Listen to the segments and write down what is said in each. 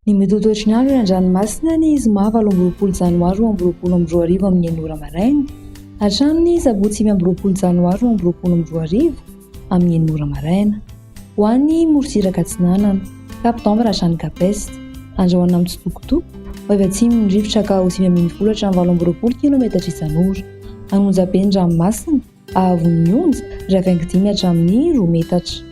Ny mety ho ny andro eny an-dranomasina ny zoma valo amby roapolo janoary roa amby roapolo amby roa arivo amin'ny enina ora maraina, hatramin'ny sabotsy sivy amby roapolo janoary roa amby roapolo amby roa arivo amin'ny enina ora maraina. Ho an'i Morontsiraka Atsinanana, Cap d'Anve Rajan Gapest. Andrahoina mitsitokotoko, ho avy atsimon'ny rivotra ka ho sivy ambin'ny folo hatramin'ny valo amby roapolo kilaometatra isan'ora. An'onja be ny ranomasina, ahavon'ny onja, iray baingo dimy hatramin'ny roa metatra.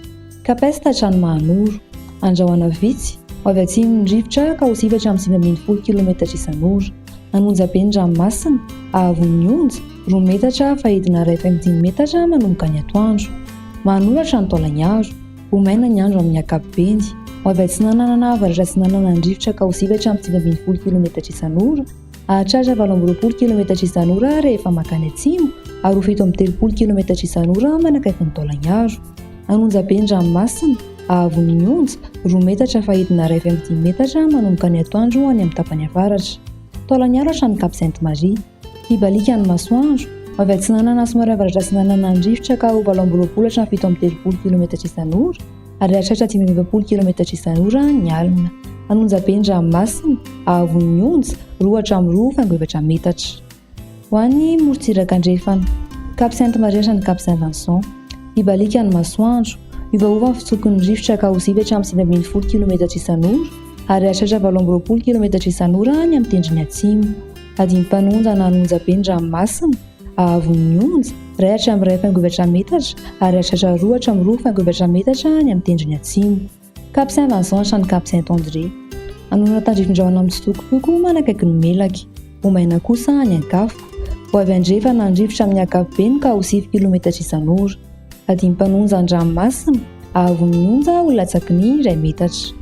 Capest Hatrany Mahanoro. Andrahoina vitsy, ho avy atsimon'ny rivotra ka ho sivy hatramin'ny sivy ambin'ny folo kilaometatra isan'ora. An'onja be ny ranomasina, haavon'ny onja, roa metatra, fahidina iray faingo dimy metatra manomboka ny atoandro. Mahanoratra ny taolagnaro. Ho maina ny andro amin'ny ankapobeny. Ho avy atsinanana na avaratra atsinanana ny rivotra ka ho sivy hatramin'ny sivy ambin'ny folo kilometatra isan'ora. Hahatratra valo amby roapolo kilometatra isan'ora rehefa mankany atsimo ary ho fito amby telopolo kilometatra isan'ora manakaiky ny taolagnaro. An'Onjaben-dranomasina, Haavon'ny Onja, roa metatra fahidina iray faingo dimy metatra manomboka ny atoandro any amin'ny tapany avaratra. Taolaniaro hatramin'ny Cap Sainte Marie. Hibaliaka ny masoandro, avy atsinanana somary avaratra atsinanana ny rivotra ka ho valo amby roapolo hatramin'ny fito amby telopolo kilometatra isan'ora ary hahatratra dimy amby efapolo kilometatra isan'ora ny alina. An'Onjaben-dranomasina, Haavon'ny Onja, roa hatramin'ny roa faingo efatra metatra. Ho any morontsiraka andrefana. Cap Sainte Marie hatrany Cap Saint Vincent. Hibaliaka ny masoandro. Hiovaova ny fitsokon'ny rivotra ka ho zivy hatramin'ny sivy ambin'ny folo kilometatra isan'ora ary hahatratra valo amby roapolo kilometatra isan'ora any amin'ny tendrony atsimo. Adin'ny mpanonja na ny onjabe ny ranomasina, haavon'ny onja, iray hatramin'ny iray faingoivatra metatra ary hahatratra roa hatramin'ny roa faingoivatra metatra any amin'ny tendrony atsimo. Capucin Vincent Shany Capucin Tendre Anona tandrifindraona mitsitokotoko ho manakaiky ny melaky, ho maina kosa ny ankafo. Ho avy andrefana ny rivotra amin'ny ankapobeny ka ho sivy kilometatra isan'ora. Adim-panonja an-dranomasina, ahavon'ny onja ho latsaky ny iray metatra.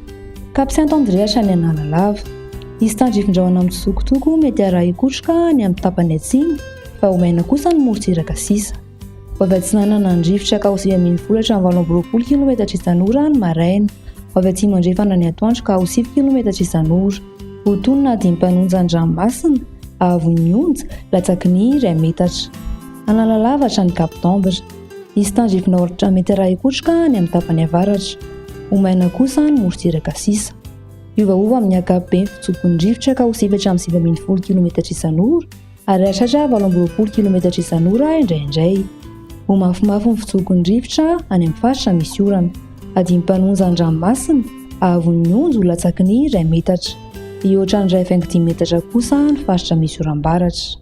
Capucin Tendre Hatrany Analalava Hisy tandrifindraona mitsitokotoko mety harahi-kotroka any amin'ny tapany atsimo fa ho maina kosa ny morontsiraka sisa. Vao avy atsinanana ny rivotra ka ho sivy ambin'ny folo hatramin'ny valo amby roapolo kilometatra isan'ora ny maraina. Vao avy atsimo andrefana ny atoandro ka ho sivy kilometatra isan'ora. Ho toy ny nahadimy mpanonja ny ranomasina, haavon'ny onja, latsaky ny iray metatra. Analalava hatrany Cap d'Ambre. Hisy tandrifina aoratra metatra hikotroka any amin'ny tapany avaratra. Ho maina kosa ny morontsiraka sisa. Miovaova amin'ny ankapobeny fitsopin'ny rivotra ka ho sivy hatramin'ny sivy ambin'ny folo kilometatra isan'ora. Ary hahatratra valo amby roapolo kilometatra isan'ora indraindray. Ho mafimafy ny fitsoky ny rivotra any amin'ny faritra misy orana. Adino mpanonja ny ranomasina, haavon'ny onja ho latsaky ny iray metatra. Hihoatra ny iray faingo dimy metatra kosa ny faritra misy oram-baratra.